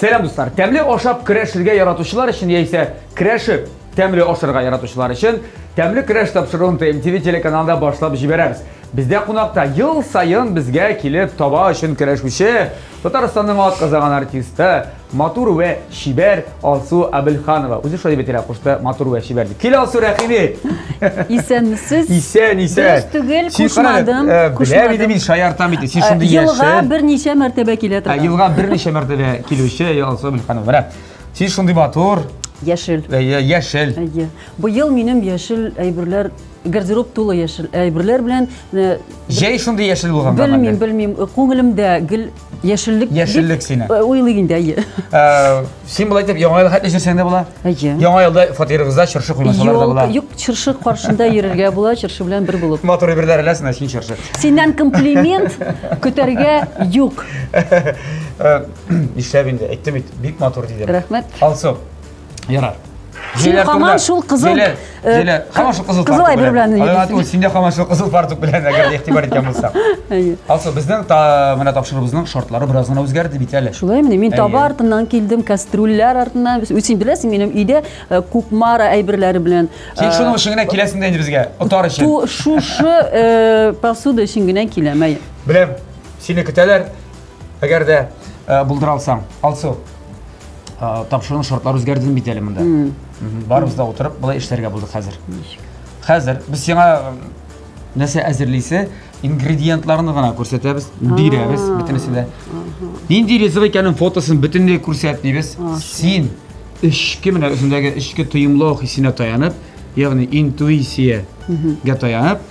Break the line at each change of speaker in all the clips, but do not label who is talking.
Сәлам дуслар! Тәмле ашап керәшергә яратучылар өчен яисә керәшеп тәмле ашырга яратучылар өчен тәмле керәш тапшыруын ТМТВ телеканалында башлап җибәрәбез. Бездә кунакта ел саен безгә килеп таба өчен керәшүче Татарстанның атказаган артисты, Матур вә чибәр Алсу Абелханова. Үзе шулай дип әйтелә, кушты, матур вә чибәр дип. Кил, Алсу, рәхим ит! Исәнмесез.
Исән, исән. Дөрес
түгел, Син
карале, кушмадым, э, Беләм кушмадым. иде мин,
шаяртам бит. Син шундый яшел. Елга берничә
мәртәбә килә Ә, торган. Елга берничә мәртәбә
килүче я, Алсу Абелханова. Менә. Син шундый матур, Яшел. э, я-
яшел. Әйе.
Быел
минем яшел әйберләр, гардероб тулы яшел әйберләр белән э, Җәй
шундый яшел булган. Белмим, белмим.
Күңелемдә гел Яшеллек Яшеллек дип, сине. э, уйлый
инде, әйе.
Ә,
Син болай итеп яңа елга хәтле җирсәң дә була. Әйе. Яңа елда фатирыгызда чыршы куймасалар да була. Юк, юк, чыршы каршында
йөрергә була, чыршы белән бер булып. Матур әйберләр эләсен, ә син
чыршы. Синнән комплимент
көтәргә юк. Ә,
Нишләп инде? Әйттем бит, бик матур дидем. Рәхмәт. Алсу, Ярар. Син
хаман шул кызыл э, Зилә, хаман
шул кызыл кызыл әйбер белән. Алгаты
ул синдә хаман шул
кызыл фартук белән әгәр дә игътибар иткән булсак. Алсу, безнең менә тапшырыбызның шартлары бераз гына үзгәрде бит әле. Шулай мени, мин таба
артыннан килдем, кастрюльләр артыннан. Үзең беләсең, минем өйдә э, кукмара әйберләре белән. Син э, шуның өчен генә
киләсең дә инде безгә, отар өчен. Шушы
посуда өчен генә киләм, әй. Беләм,
сине көтәләр. Әгәр дә э, булдыра алсаң, Алсу, э, тапшыруның шартлары үзгәрдеме бит әле монда? Барыбыз да утырып, былай эшләргә булдык хәзер. Хәзер без сиңа э, нәрсә әзерлисе, ингредиентларны гына күрсәтәбез, бирәбез бөтенесен дә. Нинди ризык икәнен фотосын бөтенләй күрсәт дибез. Син эчке менә үзендәге эчке тоемлау хисенә таянып, ягъни интуициягә таянып,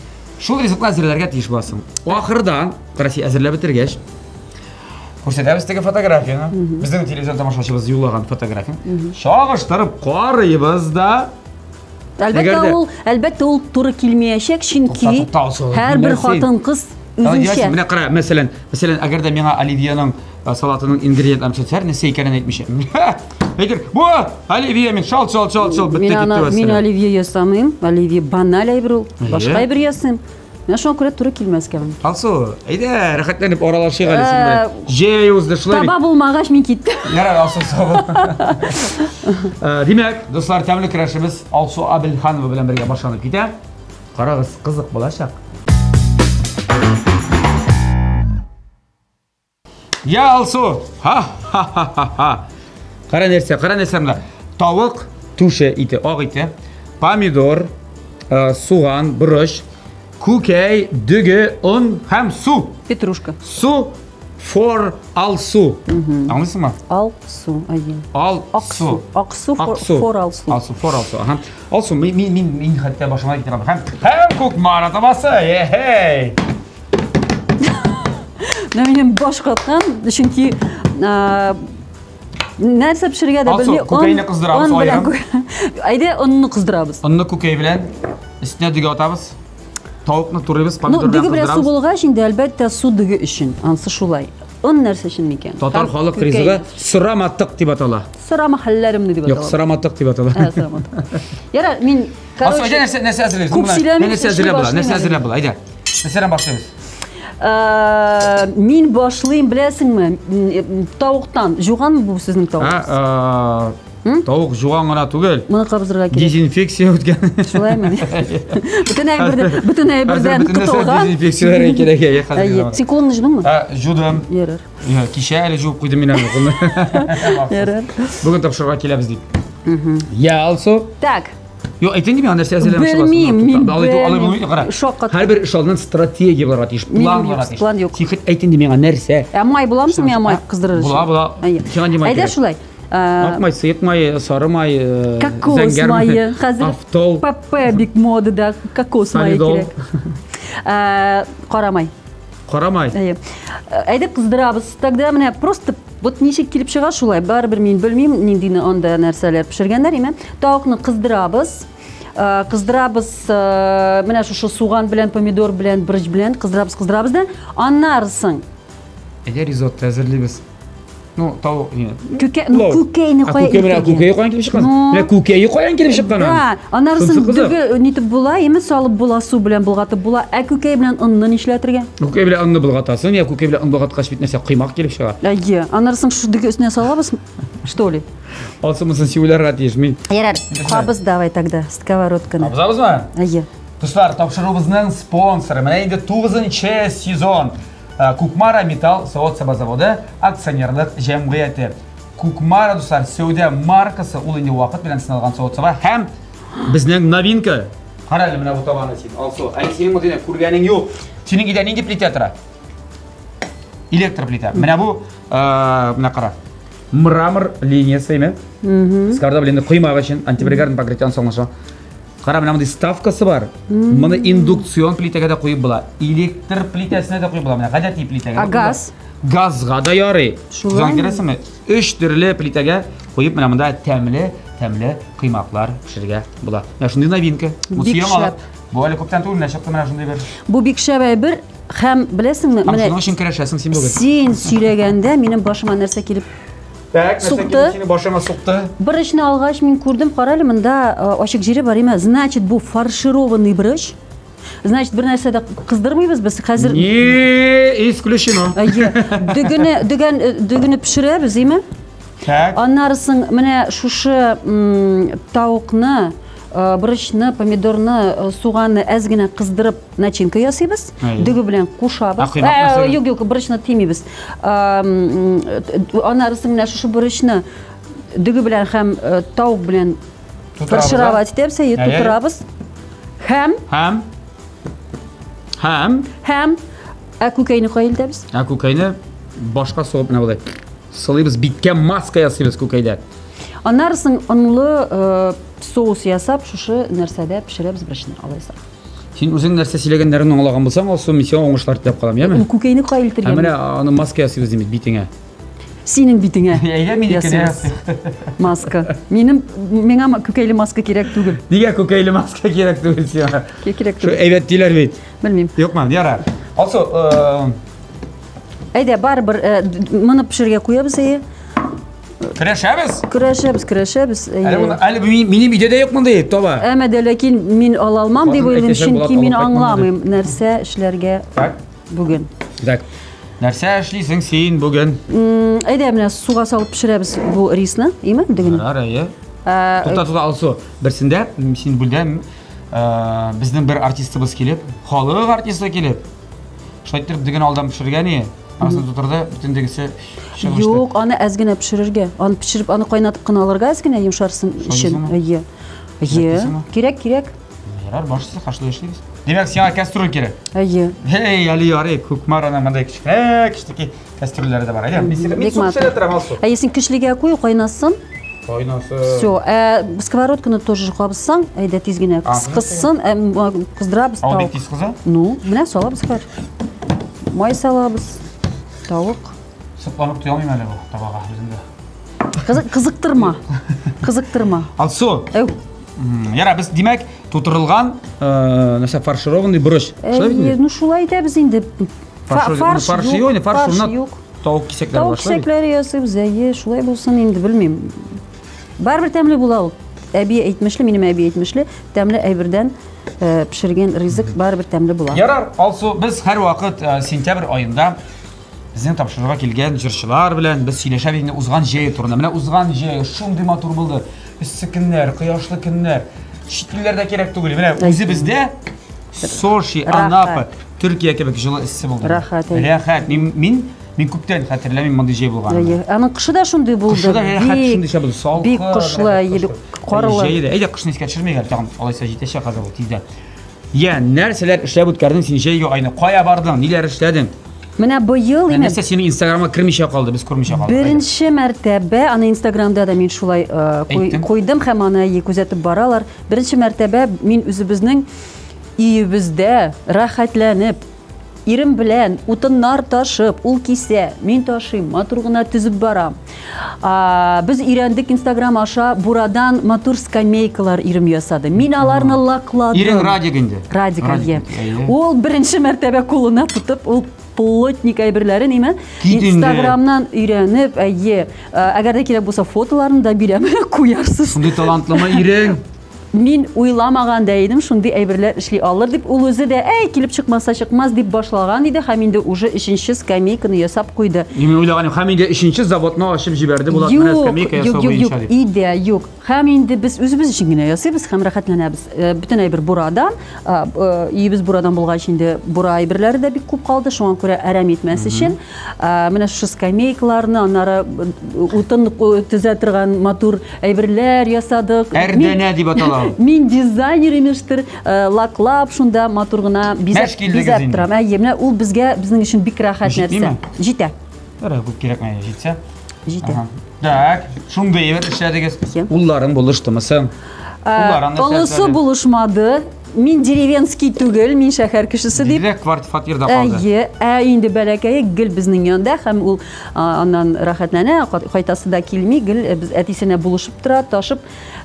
Шул ризыкны әзерләргә тиеш буласың. Ахырда, караси әзерләп бетергәч, күрсәтәбез теге фотографияне. Безнең телевизор тамашачыбыз юллаган фотографияны. Чагыштырып карыйбыз да. Әлбәттә ул,
әлбәттә ул туры килмәячәк, чөнки һәрбер хатын-кыз үзенчә. Менә кара, мәсәлән,
мәсәлән, әгәр дә миңа Оливьеның салатының ингредиентларын төшерсәләр, нәрсә икәнен әйтмичә. Әйтер, бу! Оливье мин, шалт, шалт, шалт, шалт, бітті кетті ана, мин оливье ясамыйм.
Оливье баналь әйбер ул. Башка әйбер ясыйм. Менә шуңа күрә туры килмәскә мин. Алсу, әйдә,
рәхәтләнеп аралашыйк әле син белән. Җәй узды шулай. Таба булмагач мин
киттем. Ярар, Алсу, сау бул.
Димәк, дуслар, тәмле керәшебез Алсу Абелханова белән бергә башланып китә. Карагыз, кызык булачак. Я, Алсу! Ха-ха-ха-ха-ха! Кара нәрсә, кара нәрсә мына. Тавык түше ите, ак ите, помидор, э, суган, борыч, күкәй, дөге, он һәм су. Петрушка. Су for Алсу. Аңлыйсыңмы? Алсу,
әйе. Ал Аксу.
Аксу for,
Аксу. for Алсу. Алсу for Алсу. Ага.
Алсу, мин мин мин мин хәтта башыма китерәм. Һәм һәм күк мара табасы. Эй!
Менә минем баш каткан, чөнки нәрсә пешерергә дә белми. Күкәйне кыздырабыз
аерым. Әйдә,
онны кыздырабыз. Онны күкәй белән
өстенә дөге атабыз. Тавыкны турыйбыз, помидор белән кыздырабыз. Ну, дөге белән су булгач, инде
әлбәттә су дөге өчен. Ансы шулай. Он нәрсә өчен микән? Татар халык ризыгы
сыраматык дип атала. Сырамахалләремне
дип атала. Юк, сыраматык дип атала. Ә,
сыраматык.
Яра, мин Короче, Асу, әйдә нәрсә, нәрсә
әзерләйбез? Күп сөйләмим, нәрсә әзерләп була, нәрсә әзерләп була, әйдә. Нәрсәдән башлыйбыз? Э,
мин башлыйм, беләсеңме? Э, тавыктан. Жуганмы бу сезнең тавыгыз? Э,
тавык жуган гына түгел. Моны кабызырга кирәк.
Дезинфекция үткән.
Шулаймы?
Бөтен әйбердән, бөтен әйбердән котылган. Дезинфекцияләр кирәк.
Син кулыңны жудыңмы?
Жудым.
Ярар.
Кичә әле жуып
куйдым мин аны.
Бүген тапшырырга
киләбез дип. Я, Алсу. Так.
Юк, әйтен кими,
нәрсә әзерләмәкче буласың. Белмим, мин
белмим. Шаккат.
Һәрбер эш алдыннан стратегия буларга тиеш, план буларга тиеш. План юк. Секрет әйтен ди
миңа нәрсә?
Ә май буламы соң миңа
май кыздырыр өчен? Була, була. Сиңа
димай. Әйдә
шулай. Ак май, сыек
май, сары май, э, кокос
майы, хәзер автол. ПП
бик
модада кокос майы кирәк. Э, кара май. Карамай. Әйе. Әйдә кыздырабыз. Тогда менә просто вот ничек килеп чыга шулай. Барыбер мин белмим, ниндине анда нәрсәләр пешергәннәр име. Тавыкны кыздырабыз. Э, кыздырабыз э, менә шушы суган белән, помидор белән, брыч белән кыздырабыз, кыздырабыз да аннарысын. Әгәр ризотто
әзерлибез, Ну, тау, не. Күкә, ну, күкәйне
кая килеп чыккан? Күкәйне кая килеп чыккан?
Менә күкәйне кая килеп чыккан? Да, анарысын
дөге нитеп була, яме салып була, су белән булгатып була. Ә күкәй белән онны нишләтергә? Күкәй белән онны
булгатасың, я күкәй белән ун булгаткач бит нәрсә кыймак килеп чыга. Әйе, анарысын шу
дөге өстенә салабыз, что ли? Алсын мысын сивләргә
тиеш мин. Ярар, кабыз
давай тогда сковородканы. Кабызабызмы? Әйе.
Дуслар,
тапшыруыбызның
спонсоры. Менә инде 9 сезон. Ә, Кукмара металл савыт-саба заводы акционерлык җәмгыяте. Кукмара, дуслар, сәүдә маркасы, ул инде вакыт белән сыналган савыт-саба һәм безнең новинка. Кара әле менә бу табаны син, Алсу. Әле синең мондыйны күргәнең юк. Синең өйдә нинди плитә тора? Электр плитә. Менә бу, ә, менә кара. Мрамор линиясе име? Скарда белән коймак өчен антипригарный покрытие соңлаша. Кара, менә мондый ставкасы бар. Моны индукцион плитәгә дә куеп була. Электр плитәсенә дә куеп була. Менә гадәти плитәгә. А газ? Газга
да
ярый. Шулай. Күрәсеңме? Өч төрле плитәгә куеп менә монда тәмле, тәмле кыймаклар пешерергә була. Менә шундый новинка. Бу яңалык.
Бу әле күптән түгел, менә
чыкты менә шундый бер. Бу бик шәп әйбер
һәм беләсеңме, менә. Шуның өчен керәшәсең син
бүген. Син сөйләгәндә
минем башыма нәрсә килеп Так, сукты.
Сине башыма сукты. Брычны алгач
мин күрдем, карале монда э, ачык җире бар име? Значит, бу фаршированный брыч. Значит, бер нәрсә дә кыздырмыйбыз без хәзер. Не,
исключено. Әйе. Дөгене, дөгән, э,
дөгене пешерәбез, име? Так. Аннарысын менә шушы тавыкны, э, брычны, помидорны, суганны әз генә кыздырып начинка ясыйбыз дөге белән кушабыз юк юк борычны тимибез анарысын менә шушы борычны дөге белән һәм тавык белән фаршировать итәбез әйе тутырабыз һәм һәм һәм һәм ә күкәйне кая илтәбез ә күкәйне
башка сугып менә болай сылыйбыз биткә маска ясыйбыз күкәйдә анарысын
онлы соус ясап шушы нәрсәдә пешерәбез бершне алайса Син үзең нәрсә
сөйләгәннәрен аңлаган булсаң, Алсу, мин сиңа уңышлар теләп калам, яме? Ул күкәйне кая илтергән? Ә менә
аны маска
ясыйбыз димиз битеңә. Синең
битеңә. Әйдә мине кенәс.
Маска.
Минем миңа күкәйле маска кирәк түгел. Нигә күкәйле маска
кирәк түгел сиңа? Кирәк түгел. Шо әйбәт диләр
бит.
Белмим. Юкмы, яра. Алсу, э,
Әйдә, барыбер э, моны пешерергә куябыз әйе. Көрәшәбез? Көрәшәбез, көрәшәбез. Әле моны әле
минем өйдә дә юк мондый таба. Әмма дә ләкин
мин ала алмам дип уйлыйм, чөнки мин аңламыйм нәрсә эшләргә бүген. Так.
Нәрсә эшлисең син бүген? Әйдә, менә
суга салып пешерәбез бу рисны, име? Дигән. Ярар, әйе. Ә, Тукта, тукта, Алсу.
Берсендә син бүлдә безнең бер артистыбыз килеп, халык артисты килеп, Шулай итеп диген алдан пешергән ие. Асын тутырды, бүтән дигесе чыгып эчте. Юк, аны әз генә
пешерергә. Аны пешереп, аны кайнатып кына алырга әз генә йомшарсын өчен. Шагыйсыңмы? Ие. Ие. Кирәкмисеңме? Кирәк, кирәк.
Ярар, барысы хашлы эшлибез. Димәк, сиңа кәстрүл кирәк. Ие. Эй, әле ярый, Күкмар ана мондай кечкенә, кечтеки Кастрюльләре дә бар. Әйдә, без мин су пешерә торам, ал су. Әйе, син кичлегә куй,
кайнасын. Кайнасын. Все, ә сковородканы тоже кабызсаң, әйдә тиз генә кызсын, кыздырабыз тау. Ал бик тиз кыза. Ну,
менә салабыз
хәзер. Май салабыз. Тавык. Сыкланып
туя алмыйм әле бу табага үземдә. Кызыктырма. Кызыктырма. Ал су. Әү. Яра, без димәк, тутырылган, нәрсә фаршированный борыч. Шулай бит? Ну, шулай
итәбез инде. Фарш, фарш, фарш
юк, юк, фарш, фарш юк. Тавык кисәкләре Тавык кисәкләре ясыйм,
зәе, шулай булсын инде, белмим. Барыбер тәмле була ул. Әби әйтмешле, минем әби әйтмешле, тәмле әйбердән э, пешергән ризык барыбер тәмле була. Ярар, Алсу, без
һәр вакыт э, сентябрь аенда безнең тапшыруга килгән җырчылар белән без сөйләшәбез инде узган җәй турында. Менә узган җәй шундый матур булды. Эссе көннәр, кояшлы көннәр. Чит илләрдә кирәк түгел. Менә үзе бездә Сочи, Анапа, Төркия кебек җылы эссе булды. Рәхәт, әй. Рәхәт. Мин
мин
мин күптән хәтерләмим мондый җәй булганын. Әйе. Аның кышы да шундый
булды. Кышы да рәхәт Бик- шундый чабыз.
Салкын. Бик кышлы, рәхәт әйе, бик
кышлы. карлы. Җәе дә. Әйдә кышны искә
төшермик әле тагын. Алайса җитәчәк хәзер ул тиздән. Я, нәрсәләр эшләп үткәрдең син җәйге айны? Кая бардың? Ниләр эшләдең? Менә быел
Ә именно Нәрсә синең инстаграмга кермичә
калды, без күрмичә калдык. Әйдә. беренче мәртәбә
аны инстаграмда да мин шулай э, куй- Әйттең. куйдым һәм аны әйе күзәтеп баралар. Беренче мәртәбә мин үзебезнең Өебездә рәхәтләнеп, ирем белән утыннар ташып, ул кисә, мин ташыйм, матур гына төзеп барам. Без өйрәндек Инстаграм аша бурадан матур скамейкалар ирем ясады. Мин аларны лакладым. Ирең Радик
инде.
Радик, әйе.
Ул
беренче мәртәбә кулына
тотып,
ул плотник әйберләрен име инстаграмнан өйрәнеп әйе әгәр дә кирәк булса фотоларын да бирәм куярсыз шундый талантлымы
ирең Мин
уйламаган да идем, шундый әйберләр эшли алыр дип. Ул үзе дә, әй, килеп чыкмаса чыкмас, дип башлаган иде, һәм инде уже өченче скамейканы ясап куйды. Мин уйлаганым, һәм инде
өченче заводны ачып җибәрде Булат, менә Юк, скамейка ясау юк, юк, юк, буенча дип. идея юк. Һәм
инде без үзебез өчен генә ясыйбыз һәм рәхәтләнәбез. Э, Бөтен әйбер бурадан, а, э, өебез бурадан булгач инде бура әйберләре дә бик күп калды, шуңа күрә әрәм итмәс өчен Менә шушы скамейкаларны, аннары утын төзә торган матур әйберләр ясадык. Әрдәнә дип атала.
Мин дизайнер
имештер, лаклап шунда матур гына бизәп бизәп торам. Әйе, менә ул безгә безнең өчен бик рәхәт нәрсә. Җитә. Ярар, күп кирәкми,
җитсә. Җитә.
Так,
шундый әйбер эшләдегез. Улларың булыштымы соң? Улларың нәрсә?
Олысы булышмады. Мин деревенский түгел, мин шәһәр кешесе дип. Дилә кварт фатирда калды.
Әйе, ә инде бәләкәе
гел безнең янда һәм ул аннан рәхәтләнә, кайтасы да килми, гел э, без әтисенә булышып тора, ташып.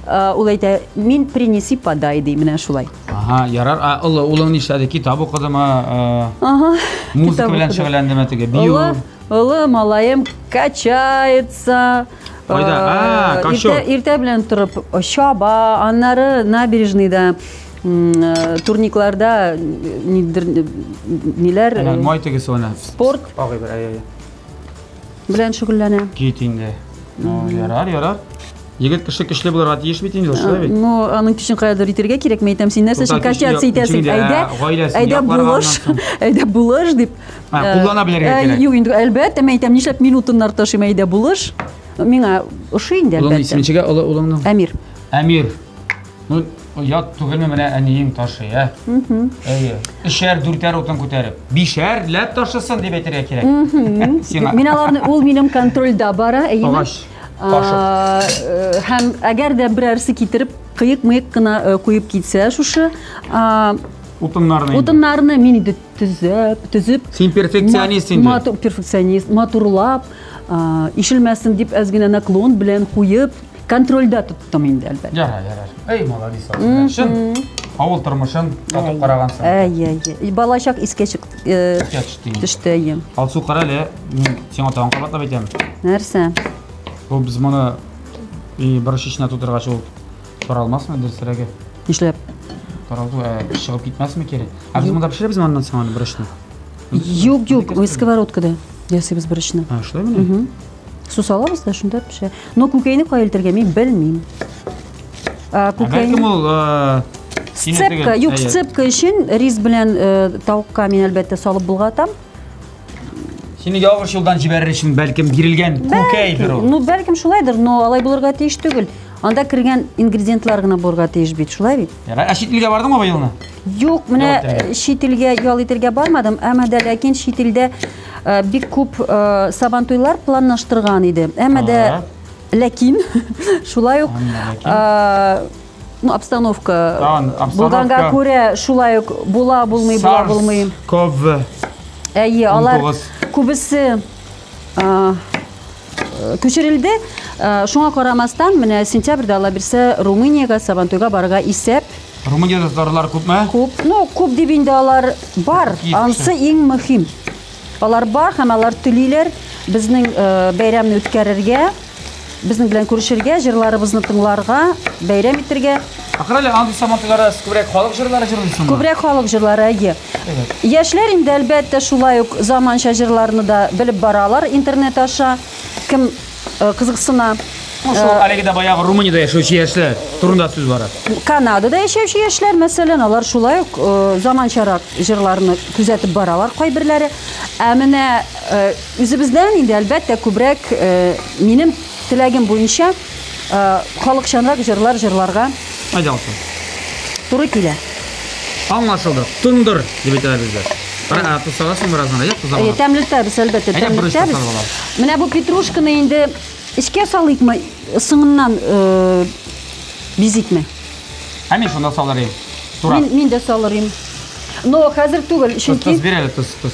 Ул әйтә, мин принеси подай ди, менә шулай. Ага, ярар. А
олы улың нишләде? Китап укыдымы? Ага. Музыка белән шөгыльләндеме теге? Бию. Олы малаем
качается. Кайда?
Э, а, Кашо. Иртә, иртә белән торып
чаба, аннары набережныйда э, турникларда э, нидер ниләр Әнә май тегесе ана.
Спорт. Агый бер, әй,
әй. Белән шөгыльләнә. Кит инде.
Ну, ярар, ярар. Егет кеше көчле булырга тиеш бит инде, шулай бит. Ну, аның көчен каядыр
итергә кирәк, мәйтәм, син нәрсә өчен качаться итәсең? Әйдә, әйдә булыш, әйдә булыш дип А, э, куллана белергә э,
кирәк. Юк, инде әлбәттә, мин әйтәм,
нишләп минутыннар ташыйм әйдә булыш. Миңа ошый инде әлбәттә. Улың исемчегә олы улыңның?
Әмир. Әмир. Ну, ят түгелме менә әниең ташый, ә? Әйе. Өчәр, дүртәр утын күтәреп. Бишәр ләп ташысын дип әйтергә кирәк. Мин аларны
ул минем контрольдә бара, әйе. Агач. Э, һәм әгәр дә берәрсе китереп кыек-мыек кына куеп китсә шушы утыннарны утыннарны мин инде төзәп, төзеп... Син перфекционист
инде. Матур, перфекционист,
матурлап, ишелмәсен дип әз генә наклон белән куеп, контрольдә тоттым инде, әлбәттә. Ярар,
ярар. Эй, молодец, Чын, авыл тормышын татып карагансың. Әй, әй, әй. Балачак искә
чык... Э, төште, әйе. Алсу, кара
әле, мин сиңа тагын кабатлап әйтәм. Нәрсә?
Ул без
моны и бер шешнә тутыргач ул Таралмасмы дөресрәге? Нишләп?
Таралу
ә, чыгып китмәсме кире? Ә без монда пешерәбез ме аннан соң аны берочны? Юк, юк,
ой, сковородкада ясыйбыз берочны. А, шулай мени?
Су салабыз
да шунда пешә. Но күкәйне кая илтергә мин белмим. Ә,
күкәйне... Бәлкем ул э, Сцепка, юк,
сцепка өчен рис белән э, тавыкка мин әлбәттә салып булгатам.
Сине ялгыш юлдан җибәрер өчен бәлкем бирелгән күкәйдер ул. Ну, бәлкем шулайдыр, но
алай булырга тиеш түгел. Анда кергән ингредиентлар гына булырга тиеш бит, шулай бит? Ярай, ә чит илгә бардыңмы
быелны? Юк, менә э,
чит илгә ял итергә бармадым, әмма дә ләкин чит илдә э, бик күп э, сабантуйлар планлаштырган иде. Әмма дә ләкин шулай ук Ну, обстановка. Тан, обстановка. Булганга күрә шулай ук була, булмый, була, булмый. Ков.
Әйе,
алар күбесе күчерелде. Шуңа карамастан, менә сентябрьдә алла бирсә, Румыниягә Сабантуйга барырга исәп. Румыниядә татарлар
күпме? Күп. Ну, күп дип
инде алар бар. Ансы иң мөһим. Алар бар һәм алар түлиләр безнең бәйрәмне үткәрергә. Безнең белән күрешергә, җырларыбызны тыңларга, бәйрәм итергә. Ахыр әле андый
сабантуйларда сез күбрәк халык җырлары җырлыйсызмы? Күбрәк халык җырлары,
әйе. Яшьләр инде әлбәттә шулай ук заманча җырларны да белеп баралар интернет аша. Кем э, кызыксына. Ну, шул э, әлеге
дә баягы Румыниядә яшәүче яшьләр турында сүз бара. Канадада яшәүче
яшьләр, мәсәлән, алар шулай ук э, заманчарак җырларны күзәтеп баралар кайберләре. Ә менә э, Үзебездән инде, әлбәттә, күбрәк минем теләгем буенча халыкчанрак җырлар җырларга. Әйдә алсын. Туры килә. Аңлашылды.
Туңдыр дип әйтәләр бездә. Ә тусагасын бераздан әйдә туза. Әйе, тәмлетәбез, әлбәттә,
тәмлетәбез. Менә бу петрушканы инде эчкә салыйкмы, соңыннан бизикме?
Ә мин шунда салырым. Мин дә салырым.
Но хәзер түгел, чөнки... Тос, бир әле, тос, тос.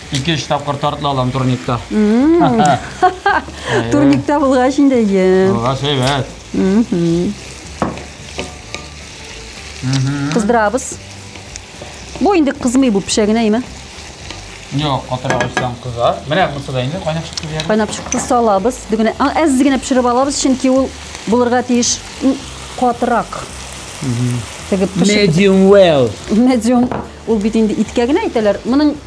Ике-өч тапкыр тартыла алам турникта.
Турникта булгач инде ем. Булгач әйбәт. Кыздырабыз. Бу инде кызмый бу пешә генә име? Юк,
катырак өстән кыза. Менә кызса да инде кайнап чыкты дияр. Кайнап чыкты салабыз.
Дигенә әз генә пешереп алабыз, чөнки ул булырга тиеш катырак. Тегеп пешереп.
Medium well. Medium
ул бит инде иткә генә әйтәләр. Моның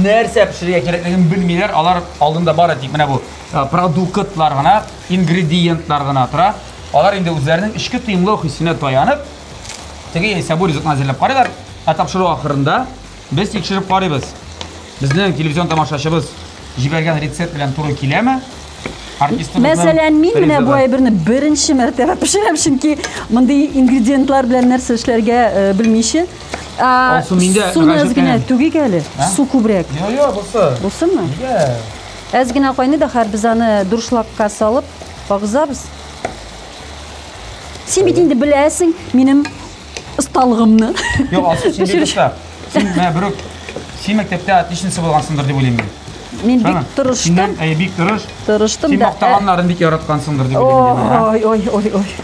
нәрсә пешерергә кирәклеген белмиләр, алар алдында бары тик менә бу продуктлар гына, ингредиентлар гына тора. Алар инде үзләренең эчке тоемлау хисенә таянып, теге яисә бу ризыкны әзерләп карыйлар. Ә тапшыру ахырында без тикшереп карыйбыз. Безнең телевизион тамашачыбыз җибәргән рецепт белән туры киләме?
Мәсәлән, мин менә бу әйберне беренче мәртәбә пешерәм, чөнки мондый ингредиентлар белән нәрсә эшләргә э, белмичә, Алсу миндә Суны әз генә түгик әле. Су күбрәк. Йо, йо, бусы. Бусымы? Нигә? Әз генә кайный да хәр без аны дуршлакка салып агызабыз. Син бит инде беләсең минем осталыгымны. Йо, Алсу син
бит оста. Син менә берүк син мәктәптә отличница булгансыңдыр дип уйлыйм мин. Мин бик
тырыштым. Синнән әй бик тырыш.
Тырыштым да. Син мактаганнарын
бик
яраткансыңдыр дип уйлыйм. Ой, ой, ой, ой.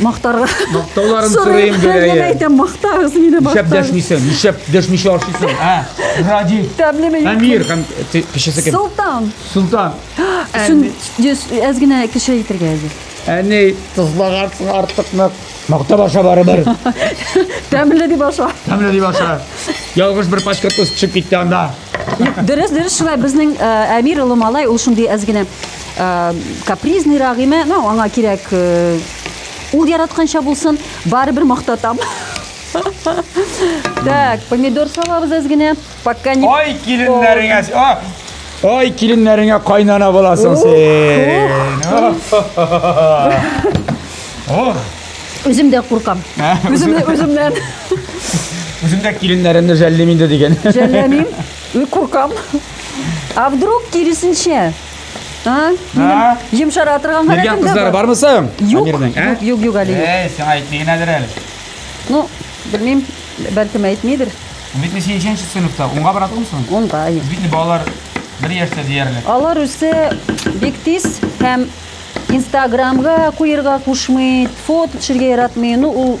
мактарга мактауларын сорыйм
гәрәе әйтәм мактагыз
мине нишләп дәшмисең нишләп дәшмичә
ашыйсың ә ради тәмлеме әмир һәм кешесе кем солтан солтан
әз генә кеше әйтергә әзер әни
тозлагансың артык нык мактап аша барыбер тәмле
дип аша тәмле дип аша
ялгыш бер пачка тоз төшеп китте анда дөрес дөрес
шулай безнең әмир олы малай ул шундый әз генә Э, капризный рагыймә ну аңа кирәк э, ул яратканча булсын барыбер мактатам так помидор салабыз әз генә пока не ой киленнәреңә
ой киленнәреңә кайнана буласың син
үзем дә куркам үземнән
үзем дә киленнәремне жәллим инде дигән жәлләмим
куркам а вдруг киресенчә А? Минем йомшара торган Биргән халәтем дә кызлары бар. бармы соң?
Юк, Амирның, ә? юк, юк,
юк, әле юк. Әй, сиңа әйтми
генәдер әле. Ну,
белмим, бәлкем әйтмидер. Бит не синченче
сыйныфта, унга бара тугымсың? Онда, юк. Бит не балалар бер яшьтә диярлек. Алар үсе
бик тиз һәм Инстаграмга куерга кушмый, фото төшергә яратмый. Ну, ул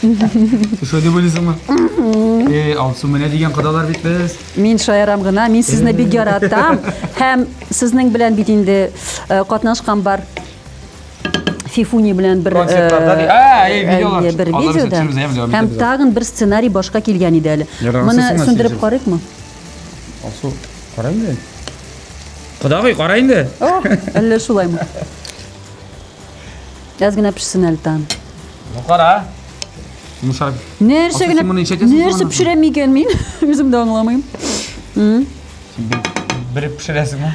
Сез шулай дип уйлыйсыңмы? Эй, Алсу, менә дигән кодалар бит без. Мин шаярам гына,
мин сезне бик яратам. Һәм сезнең белән бит инде э, катнашкан бар Фифуни белән бер Концертларда э, ди- А, эй, видеолар. әйе, бер Алар видеода. төшермәс, әйе, видео, Һәм видео. тагын бер сценарий башка килгән иде әле. Ярар, Моны сез сынасыз сүндереп инде. карыйкмы? Алсу,
кара инде. Кодагый, кара инде. О, әллә шулаймы?
Әз генә пешсен әле тагын. Ну кара.
Мушар. Нәрсә
генә? Нәрсә пешерәм микән мин? Үзем дә аңламыйм. Бер
пешерәсеңме?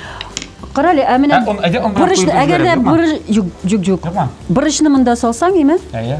Кара әле, ә менә борычны, әгәр дә борыч, юк, юк, юк. Борычны монда салсаң, име? Әйе.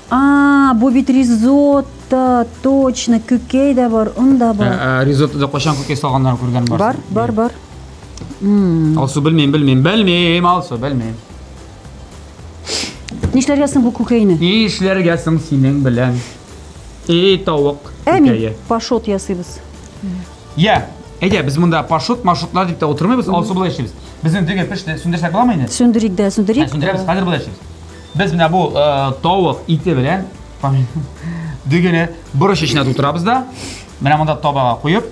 А, бу бит ризотто, точно, күкәй дә бар, он да бар. Ә, ә, Ризоттода кайчан күкәй
салганнарын күргән бар. Бар, бар, бар. М, Алсу белмим, белмим, белмим, Алсу белмим.
Нишләргә соң бу күкәйне? Ни эшләргә соң
синең белән? Эй, тавык. Ә мин күкәе. пашот
ясыйбыз. Я,
әйдә, без монда пашут, маршрутлар дип тә утырмыйбыз, Алсу былай эшлибез. Безнең дөге пеште, сүндерсәк буламы инде? Сүндерик дә, Ә, сүндерик.
Сүндерәбез, хәзер
былай эшлибез. Без менә бу э, тавык ите белән дөгене борыч эченә тутырабыз да, менә монда табага куеп,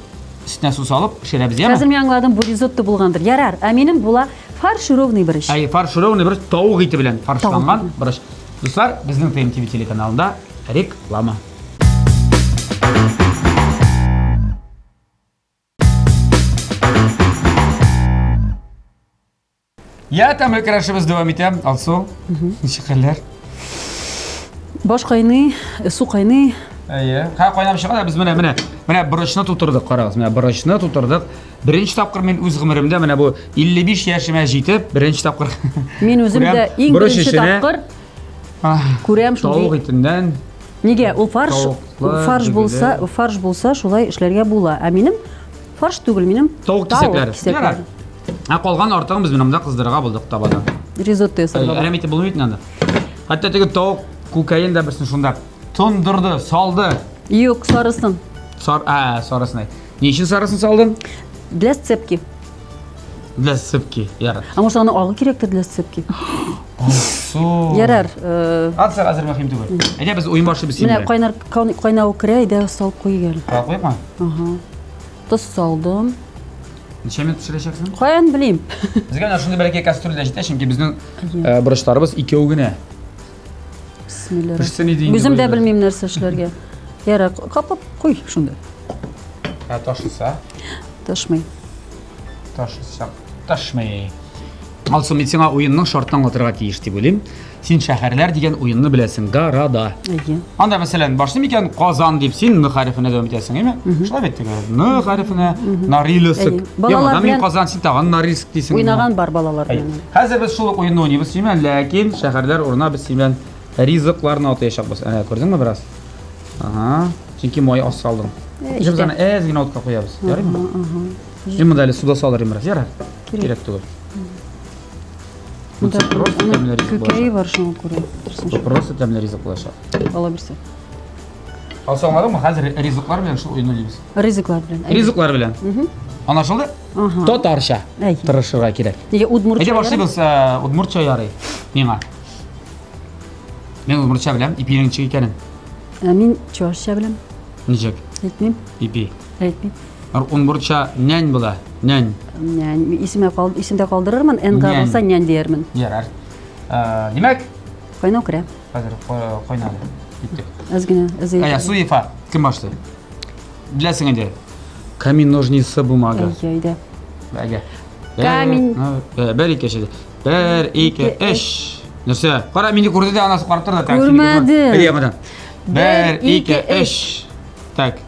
өстенә су салып пешерәбез, яме? Хәзер мин аңладым, бу ризотто
булгандыр. Ярар, ә минем була фаршированный борыч. Әй, фаршированный борыч тавык
ите белән фаршланган борыч. Дуслар, безнең ТМ ТВ телеканалында реклама. Я, тәмле керәшебез дәвам итә. Алсу, ничек хәлләр?
Баш кайный, э, су кайный. Әйе. Ха, кайнап
чыга да без менә менә менә борычны тутырдык, карагыз. Менә борычны тутырдык. Беренче тапкыр мин үз гомеремдә менә бу 55 яшемә җитеп, беренче тапкыр. Мин үзем күрәм, дә
иң борыч беренче эченә, тапкыр ах, күрәм Тавык шундый. итеннән.
Нигә? Ул
фарш, Тавыклар, фарш дөгеле. булса, фарш булса шулай эшләргә була. Ә минем фарш түгел, минем Тавык кисәкләре. кисәкләре.
Ярар. Ә калган артыгын без менә монда кыздырырга булдык табада. Ризотто ясарга.
Әрәм итеп булмый бит инде анда.
Хәтта теге тавык күкәен дә берсен шунда тондырды, салды. Юк, сарысын.
Сар, ә,
сарысын әйт. Ни өчен сарысын салдың? Для сцепки. Для сцепки, ярар. Ә может аны агы кирәктер
для сцепки? Су.
Ярар.
э, Атса хәзер
мөһим түгел. Әйдә без уен башлый без Менә синең. кайнар кайнау
керә, әйдә салып куй гел. Куйыпмы? Ага.
Тоз
салдым. Ничә
минут пешерәчәксең? Каян белим?
Безгә менә шундый бәләкәй
кастрюль дә җитә, чөнки безнең э, борычларыбыз икәү генә. Бисмилла. Пешсен
иде инде. Үзем дә бөтен. белмим нәрсә эшләргә. Ярар, капып куй шунда. Ә
ташыса?
Ташмый. Ташыса.
Ташмый. Алсу, мин сиңа уенның шартын аңлатырга тиеш дип уйлыйм. Син шәһәрләр дигән уенны беләсең, да, ра, да. Әйе. Анда, мәсәлән, башлы микән Казан дип син ны хәрефенә дәвам итәсең, әйме? Шулай бит теге. Ны хәрефенә Нарилыск. Әйе. Балалар белән Казан син тагын Нариск дисең. Уйнаган бар балалар белән.
Хәзер без шул ук
уенны уйныйбыз син белән, ләкин шәһәрләр урына без син белән ризыкларны атаячакбыз. Әнә, күрдеңме бераз? Ага. Чөнки май аз салдың. Җибез Эштә. аны әз генә утка куябыз. Ярыймы? Мин монда әле суда салырым бераз, ярар? Кирәк түгел. Бу
просто тәмле ризык булачак. Көкәе бар шуңа күрә. Бу просто тәмле
ризык булачак. Ала бирсә. Алса аңладыңмы? Хәзер ризыклар белән шул уйны дибез. Ризыклар белән. Ризыклар
белән.
Анашылды? Ага. Татарча. Тырышырга кирәк. Нигә удмуртча? Әйдә башлыйбыз
э,
удмуртча ярый. Миңа. Мин удмуртча беләм, ипинең ничек икәнен. Ә мин
чуашча беләм. Ничек?
Әйтмим.
Ипи. Әйт
бит.
Орынбурча
нянь була. Нянь. Нянь. Исемә
кал, исемдә калдырырмын. Энга Нянь. булса нянь диярмен. Ярар.
Э, Димәк, Кайнау
керә. хәзер ко-
кайнады. Киттек. Әз генә
эзе. Әйе, Суефа, кем
башлый? Беләсең инде. Камин ножницы бумага. Әйе, әйдә. Бәгә.
Камин. Бә- бә- Бер ике
шеде. Бер ике Ике, эш. Нәрсә? Кара мине күрде дә анасы карап торды. Так, сине Күрмәде. күрмәде. Әйдә, яңадан.
Бер
ике эш. Так.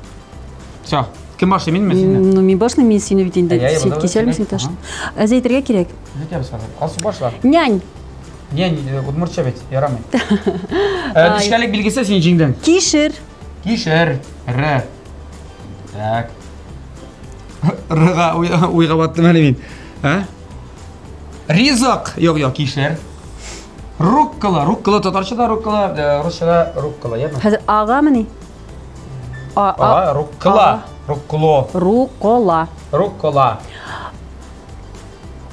Все. Кем башлый, минме, синме? Ну, мин башлыйм, мин сине
бит инде. Әйе, Син булды, кисәлме син кисәлме? таш? Әз әйтергә кирәк. Җитәбез хәзер. Алсу
башла. Нянь,
Не, не, э,
удмуртча бит, ярамый. Э, Ай. Нечкәлек билгесе син җиңдең. кишер,
Кишер.
Р. Так. Рга уй- уйга баттым әле мин. Ә? Ризык. Юк, юк, кишер. Руккола. Руккола татарчада руккола, э, русчада руккола, яме? хәзер агамыни?
А, а, А,
руккла. а. Руккло. Рукола.
Руккола.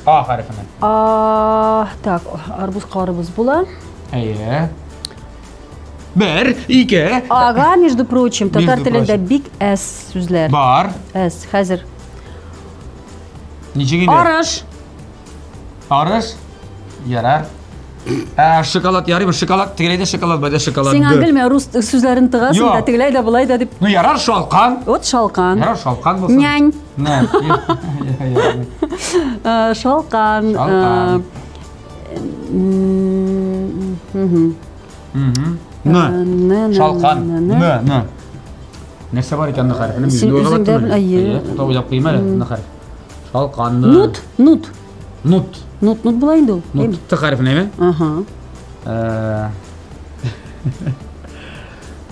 А хәрефенә. А,
так, арбуз карыбыз була. Әйе.
Бер, ике. Ага, между
прочим, татар Между телендә прочим. бик әс сүзләр. Бар. Әс,
хәзер. Ничек инде? Арыш. Арыш? Ярар. Ә шоколад ярыймы? Шоколад тегеләй дә шоколад, бай да шоколад. Сиңа гөлмә рус
сүзләрен тыгасың Юк. да, тегеләй дә, болай да дип. Ну ярар шалкан.
Вот шалкан. Ярар
шалкан булсын. Нянь.
Нянь. Э, Шалкан.
Шалкан. э, м, мгм.
Мгм. Э, Н. н- н- Шалкан. н- Н, н- н. Нәрсә бар икән н хәрефенең? Син Юлга үзең дә
баттыңмы? бел- әйе. Әйе, Туктап уйлап куйма әле н
хәреф. Шалканны. Нут, нут.
Нут.
Нут, нут була инде ул.
Нут, т хәрефенә ме?
Ага.
Э.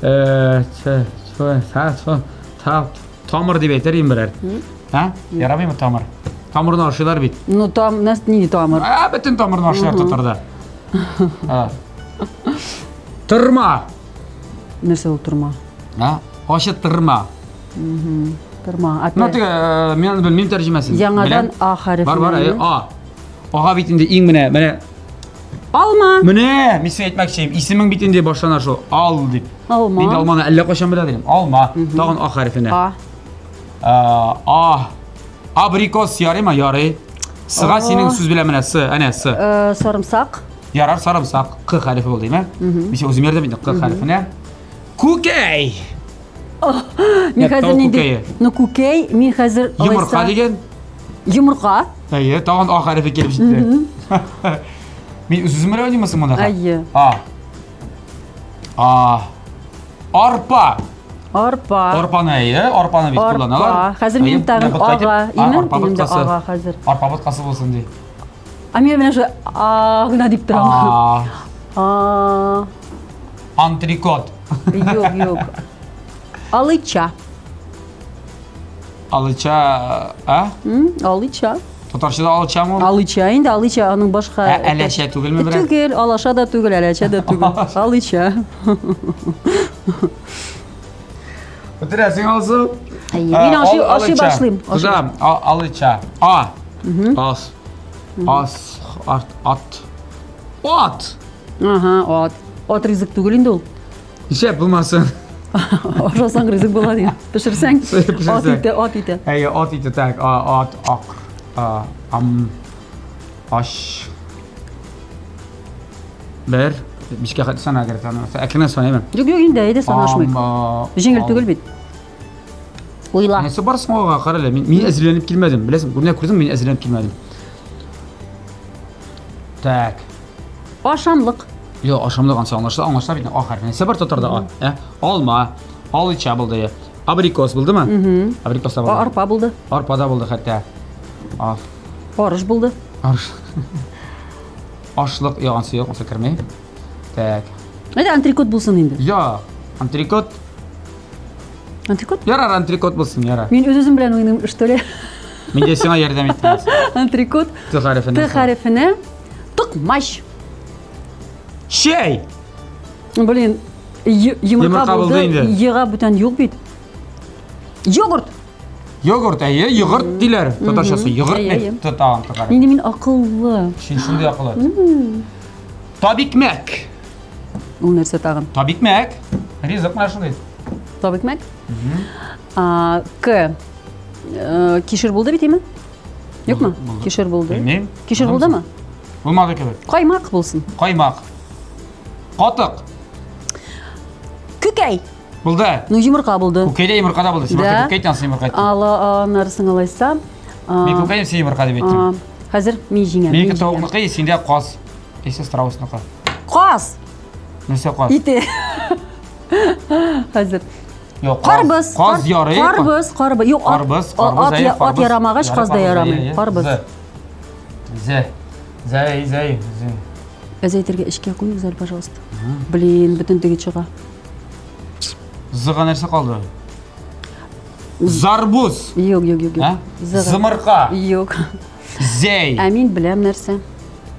Э,
ч, ч, са, со, та, тамыр дип әйтер инде берәр. Ха? Ярамыймы тамыр? Тамырны ашыйлар бит. Ну там, нас не
тамыр. А, бөтен тамырны ашыйлар
татарда. Тырма.
Нәрсә ул тырма? А? Ачы
тырма.
Торма, опять. Ну, теге,
мен белмим тәрҗемәсен. Яңадан А хәрефе.
Бар, бар, А.
Ага бит инде иң менә, менә. Алма.
Менә, мин сиңа
әйтмәкче, исемең бит инде башлана шул. Ал дип. Алма. Мин алманы әллә
кайчан
белә идем. Алма. Тагын А хәрефенә. А. А. Абрикос ярыймы? Ярый. Сыга синең сүз белән менә сы, әнә сы. Э, сарымсак.
Ярар, сарымсак.
Q хәрефе булды, әйме? Мин үзем ярдәм итәм Q хәрефенә. Күкәй.
Oh, мин хәзер нинди? Ну күкәй, мин хәзер Йомырка дигән.
Йомырка.
Әйе, тагын
а хәрефе килеп җитте. Мин үзем белән уйнамасам монда. Әйе. А.
А.
Арпа. Арпа.
Арпаны әйе,
арпаны бит кулланалар. Арпа. Хәзер мин тагын
ага, имән дигәндә ага хәзер. Арпа боткасы булсын ди.
А мен менә
шулай а гына дип торам. А, А,
Антрикот. Юк,
юк. Алыча.
Алыча, а? М,
Алыча. Татарчада
алычамы? Алыча инде, алыча
аның башка. Ә, әләшә түгелме берәр?
Түгел, алаша да түгел,
әләчә дә түгел. Алыча.
Бетерәсең алсы. Әйе, Ә, мин ашый, ал- ашый
алыча. башлыйм. Ашый- Туза, а-
алыча. А. Ас. Ас. Ат. Ат. Ат.
Ага, от. От ризык түгел инде ул. Ишәп булмасын.
Ашасаң
ризык була дигән. Пешерсәң, Пешерсәң. ат ите, ат ите. Әйе, ат ите так.
А, ат, ак. А, ам. Аш. Бер. Бишкә хәтле сана әгәр санаса. Әкренә санаймын. Юк, юк, инде әйдә
санашмыйк. Җиңел түгел бит. Уйла. Нәрсә барсың
алга, кара әле. Мин, мин әзерләнеп килмәдем. Беләсең, күренә күрдең, мин әзерләнеп килмәдем. Так. Ашамлык.
Йо, ашамлык
ансы аңлашыла, аңлашыла бит. А хәрфе. Нәрсә бар татарда? А. Ә? Алма. Алыча булды. Абрикос булдымы? Угу. Абрикос та булды. Арпа булды. Арпа да
булды хәтта.
Аф.
Арыш булды. Арыш.
Ашлык яган сөяк булса кермей. Так. Әйдә антрикот
булсын инде. Я, антрикот. Антрикот? Ярар, антрикот
булсын, ярар. Мин үз-үзем белән уйныйм,
что ли? Мин дә сиңа
ярдәм иттем. Антрикот. Т
хәрефенә. Т
хәрефенә.
Токмач.
Чәй.
Блин, йомырка булды, ега бүтән юк бит. Йогурт!
Йогурт, әйе, йогурт диләр. Татарчасы йогурт не тотаган татар. Инде мин акыллы.
Шундый акыллы.
Табикмәк.
Ул нәрсә тагын? Табикмәк.
Ризык менә шундый. Табикмәк?
А, К. Э, кишер булды бит, име? Юкмы? Кишер булды. Кишер булдымы? Булмады кебек.
Каймак булсын.
Каймак.
Катык.
Күкәй. Булды. Ну,
йомырка булды.
Күкәй дә йомырка да булды. Син башта
күкәй тансың йомырка әйттең. Ала, анарсын
алайса. Мин күкәй
син йомырка дип әйттең. Хәзер мин җиңәм.
Минеке тавыкныкы, синдә
каз. Исә страусныкы. Каз.
Нәрсә
каз? Ите.
Хәзер. Юк, карбыз.
Каз
ярый. Карбыз,
карбыз. Юк,
карбыз, карбыз. Ат ярамагач, каз да ярамый. Карбыз. Зе.
Зәй, зәй, үзең. Әз
әйтергә эчкә куй үзәр, пожалуйста. Блин, бөтен теге чыга.
Зыга нәрсә калды? Зарбуз. Юк, юк, юк, юк.
Зымырка.
Юк.
Зәй.
Ә мин беләм нәрсә.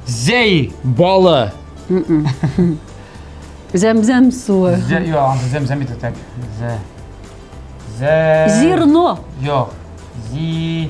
Зәй
балы.
Зәмзәм суы. Зәй, я, зәмзәм бит
так. Зәй.
Зерно. Йо.
Зи.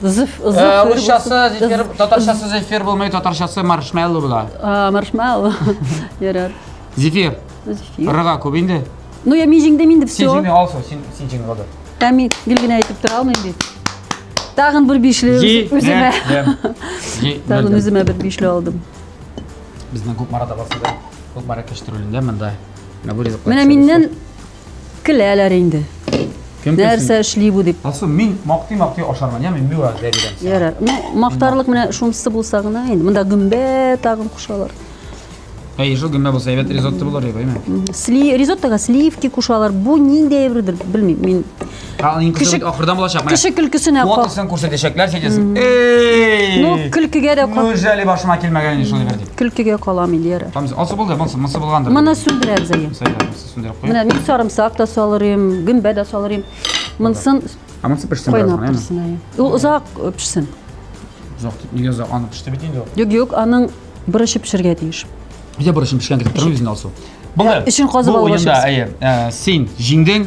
Зиф, зиф.
Э, русчасы зифир, татарчасы зифир булмый, татарчасы маршмеллоу була. А, маршмеллоу.
Ярар. Зифир.
Зифир. Рыга
күп инде.
Ну я мижиңдә
мин дип все. Син җиңде алсо, син син
җиңде булды. Ә мин гел генә
әйтеп тора алмыйм бит. Тагын бер бишле үземә. Тагын үземә бер бишле алдым. Безнең
күп марада басыда. Күп мара кештерүлендә монда. Менә
миннән Көләләр инде. Кем көлсен? Нәрсә эшли бу дип. Алсу, мин мактый-мактый
ашармын, яме, мин миңа дә бирәм сиңа. Ярар. Ну,
мактарлык менә шунысы булса гына инде. Монда гөмбә тагын кушалар. Әй,
шул гөмбә булса әйбәт ризотто булыр иде, әйме? Сли, ризоттога
сливки кушалар. Бу ниндәй бердер, белмим. Мин Ә, аның кеше Кеше- бит
ахырдан булачак. менә. кеше көлкесенә кал.
Фотосын күрсәтәчәкләр, син
әйтәсең. Эй! Ну,
көлкегә дә кал. Үз әле башыма килмәгән
инде шулай бер дип. Көлкегә калам инде,
ярар. Там Алсу булды, монсы,
монсы булгандыр. Моны сүндерәбез әйе.
Сәләм. Сүндереп куйып. Менә мин сарымсак та салыр идем, гөмбә дә салыр идем. Монсын Ә монысы пешсен бераз кайнап гына, яме? торсын. әйе. Ул озак э, пешсен. Озак
дип, нигә озак? Аны пеште бит инде ул. Юк, юк, аның
борычы пешергә тиеш. Өйдә борышын пешкән
китеп тормый үзен алсу. Булды. эчен казып Бу алып
уенда, ашыйбыз. әйе, ә, син
җиңдең,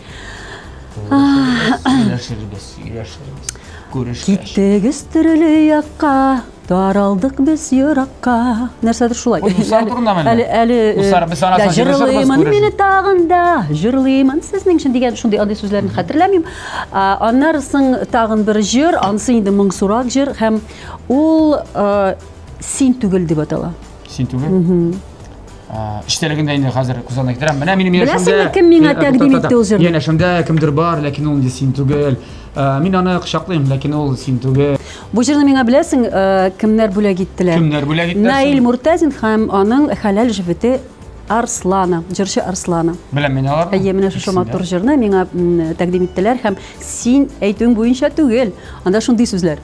Сөйләшербез, сөйләшербез. Күрешкәч. Киттегез төрле якка, таралдык без еракка. Нәрсәдер шулай. Ой, Усар турындамы әле? Әле,
әле. э, Усар, без аны да,
саҗырышырбыз, Җырлыймын күрешербез. мине тагын да, җырлыймын сезнең өчен дигән шундый андый сүзләрне хәтерләмим. А, Аннары соң тагын бер җыр, анысы инде моңсурак җыр һәм ул э, син түгел дип атала. Син
түгел? Эчтәлегендә инде хәзер күз алдына китерәм. Менә минем янәшәмдә. Беләсеңме, кем
миңа тәкъдим итте ул җырны? Янәшәмдә кемдер
бар, ләкин ул инде син түгел. Мин аны кочаклыйм, ләкин ул син түгел. Бу җырны миңа
беләсең, кемнәр бүләк иттеләр? Кемнәр бүләк иттеләр? Наил
Муртазин һәм
аның хәләл җефете Арслана, җырчы Арслана. Беләм мин аларны. Әйе,
менә шушы матур җырны
миңа тәкъдим иттеләр һәм син әйтүең буенча түгел. Анда шундый сүзләр.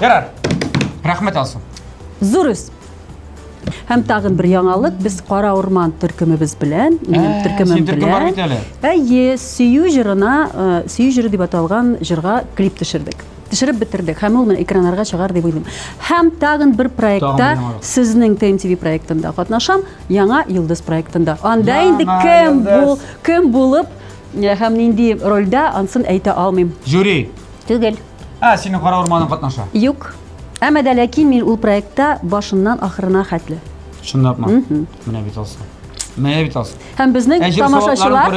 Ярар.
Рәхмәт, Алсу. Зур үз.
Һәм тагын бер яңалык, без Кара Урман төркемебез белән, минем Ә, төркемем синең төркем
бар бит әле. Әйе, сөю
җырына, э, сөю җыры дип аталган җырга клип төшердек. Төшереп бетердек һәм ул менә экраннарга чыгар дип уйлыйм. Һәм тагын бер проектта, Тагын бер яңалык. сезнең ТМТВ проектында катнашам, яңа Йолдыз проектында. Анда Яңа инде кем бу, Йолдыз. кем булып э, һәм нинди рольдә, ансын әйтә алмыйм. Жюри.
Түгел.
Ә, синең кара
урманың катнаша. Юк. Әмма
дә ләкин мин ул проектта башыннан ахырына хәтле. Чынлапмы?
Менә бит алсын. Менә бит алсын.
Һәм безнең тамашачылар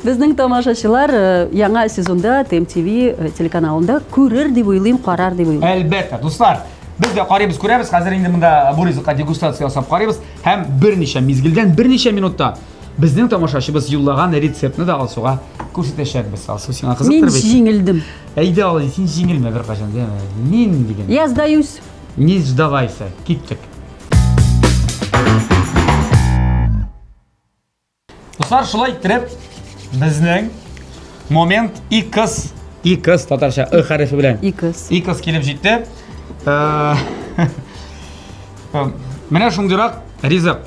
Безнең тамашачылар э, яңа сезонда ТМТВ э, телеканалында күрер дип уйлыйм, карар дип уйлыйм. Әлбәттә, дуслар,
Без дә карыйбыз, күрәбез. Хәзер инде монда бу ризыкка дегустация ясап карыйбыз һәм берничә мизгелдән, берничә минутта Безнең тамашачыбыз юллаган рецептны да Алсуга күрсәтәчәкбез. Алсу, сиңа кызыктыр бит? Мин җиңелдем. Әйдә,
Алсу, син
җиңелмә беркайчан, димә. Мин дигән. Я сдаюсь.
Не сдавайся.
Киттек. Дуслар, шулай иттереп, безнең момент и кыз. И кыз татарча ы хәрефе белән. И кыз. И кыз килеп җитте. Э, э, менә шундыйрак ризык.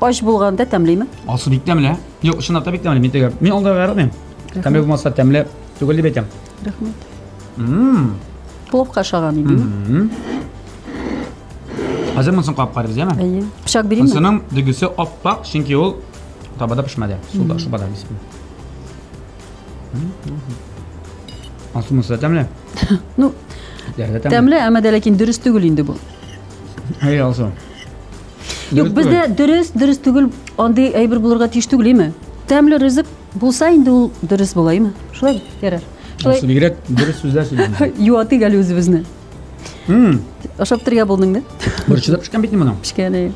Ач булганда тәмлеме? Асы бик тәмле.
Юк, чынлап та бик тәмле. Мин теге. Мин алда гармыйм. Тәмле булмаса тәмле түгел дип әйтәм. Рәхмәт.
Мм. Пловка ашаган идеме? Мм.
Хәзер монысын кап карыйбыз, яме? Әйе. Пычак бирим. Монысын
дигесе
аппак, чөнки ул табада пешмәде. Суда, шубада бисем. Асы монысы тәмле. Ну,
тәмле, әмма дә ләкин дөрес түгел инде бу. Әй,
алсам.
Юк, бездә дөрес, дөрес түгел, андый әйбер булырга тиеш түгел, име? Тәмле ризык булса инде ул дөрес була, име? Шулай ярар. Шулай бигрәк
дөрес сүзләр сөйләдең. Юатыйк әле үзебезне.
Хм. Ашап торга булдың да? Борчыда пешкән бит моның.
Пешкән әй.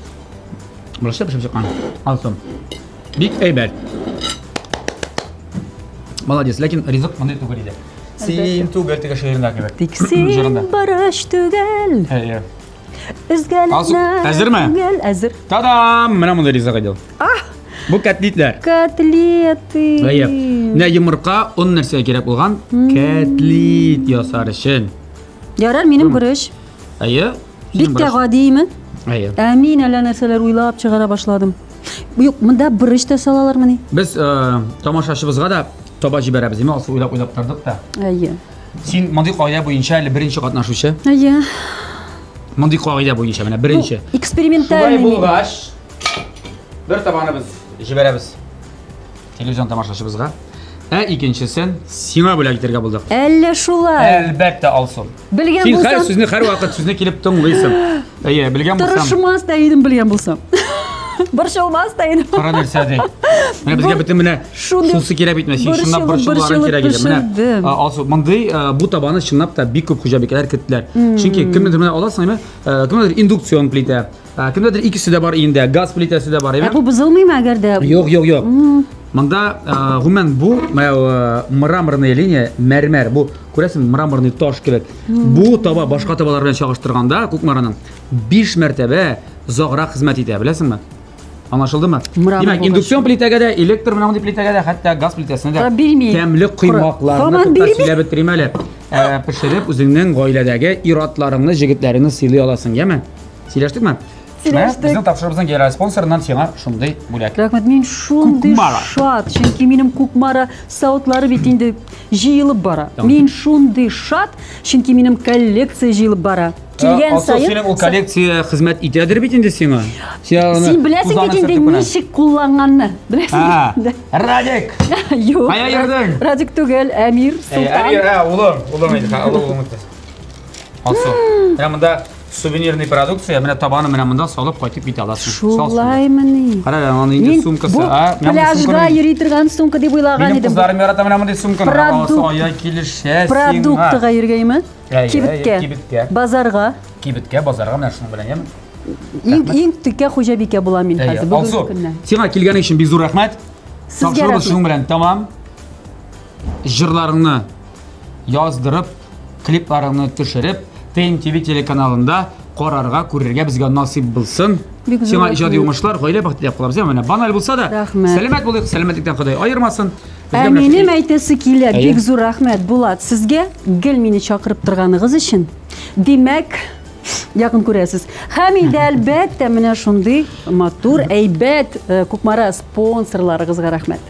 Борчыда
пешеп чыккан. Алсам. Бик әйбәт. Молодец, ләкин ризык мондый түгел иде. Син түгел теге шигырендә кебек. Тик син Җырында.
бары өч түгел. Әйе.
Өзгәләнә.
Алсу, әзерме?
Түгел, әзер.
Та-дам! Менә
монда ризык идел. Ах, Бу котлетләр. котлеты.
Әйе.
Менә йомырка, он нәрсә кирәк булган? Котлет ясар өчен. Ярар, минем
бурыч. Әйе.
Бик тә
гадиме? Әйе. Ә мин
әллә нәрсәләр
уйлап чыгара башладым. Юк, монда борыч та салалармыни? Без э,
тамашачыбызга да таба җибәрәбез, димә, алсы уйлап уйлап тордык та. Әйе.
Син мондый
кагыйдә буенча әле беренче катнашучы. Әйе. Мондый кагыйдә буенча менә беренче. Шулай Экспериментальный.
булгач,
бер табаны без җибәрәбез. Телевизион тамашачыбызга. Ә икенчесен сиңа бүләк итәргә булдык. Әллә шулай.
Әлбәттә, Алсу.
Белгән Син һәр булсам, сүзне
һәрвакыт
сүзне
килеп
тыңлыйсың. Әйе, белгән булсам, тырышмас та идем белгән
булсам. Борчылмас та идем. кара нәрсә ди.
Менә безгә бөтен менә шундый шунысы кирәк бит менә, син борчылып, чынлап борчылуларың борчылып кирәк иде. Менә пешердем. а, Алсу, мондый а, бу табаны чынлап та бик күп хуҗабикәләр керттеләр. Чөнки кемнедер менә аласың, әйме, ә, кемнедер индукцион плитә, Ә, кемдәдер икесе дә бар өендә, газ плитәсе дә бар, Ә әйме? бу бозылмыймы әгәр дә?
Юк, юк, юк.
Монда ә, гомумән бу мәу, ә, мраморная линия, мәрмәр. Бу күрәсең, мраморный таш кебек. Бу таба башка табалар белән чагыштырганда, Кукмараның 5 мәртәбә озаграк хезмәт итә, беләсеңме? Аңлашылдымы? Мрамор Димәк, булгач. индукцион плитәгә дә, электр менә мондый плитәгә дә, хәтта газ плитәсенә дә Та бирми. тәмле Кора. коймакларны Таман тотта бирми. сөйләп бетерим әле. Ә, Пешереп үзеңнең гаиләдәге ир-атларыңны, җегетләреңне сыйлый аласың, яме? Сөйләштек ме? Сөйләштек. Безнең тапшырыбызның генераль спонсорыннан сиңа шундый бүләк. Рәхмәт, мин шундый
шат, чөнки минем Кукмара сауытлары бит инде җыелып бара. Мин шундый шат, чөнки минем коллекция җыелып бара. Килгән саен... Синең ул коллекция
хезмәт итәдер бит инде сиңа. Син
беләсең бит инде ничек кулланганны. Беләсең. Радик!
Юк. Кая
йөрдең? Радик
түгел,
Әмир Султан. Әмир, улым, улым
әйтә, улым. Алсу. Ә монда Сувенирный продукция, менә табаны менә монда салып кайтып китә аласың. Шулаймыни?
Кара, аны инде
сумкасы, а? Пляжга
йөри торган сумка дип уйлаган идем. Минем кызларым ярата менә мондый сумканы.
Продукт. Ая килешә сиңа. Продуктыга йөргәйме?
Кибеткә. Кибеткә. Базарга. Кибеткә, базарга
менә шуның белән яме. Иң иң текә хуҗабикә
була мин хәзер бүгенге көннән. Сиңа килгән өчен бик зур
рәхмәт. Сезгә рәхмәт. Шуның
белән тамам.
Җырларыңны яздырып Клипларыңны төшереп, Тейм ТВ телеканалында карарга, күрергә безгә насыйп булсын. Бик зур Сиңа иҗади рәхмәт. уңышлар, гаилә бәхете дип калабыз. Менә баналь булса да, Рәхмәт. сәламәт булыйк, сәламәтлектән Ходай аермасын. Безгә Ә менә минем шундый-
әйтәсе килә, Әйе. бик зур рәхмәт, Булат, сезгә гел мине чакырып торганыгыз өчен. Димәк, якын күрәсез. Һәм инде әлбәттә менә шундый матур, әйбәт э, Кукмара спонсорларыгызга рәхмәт.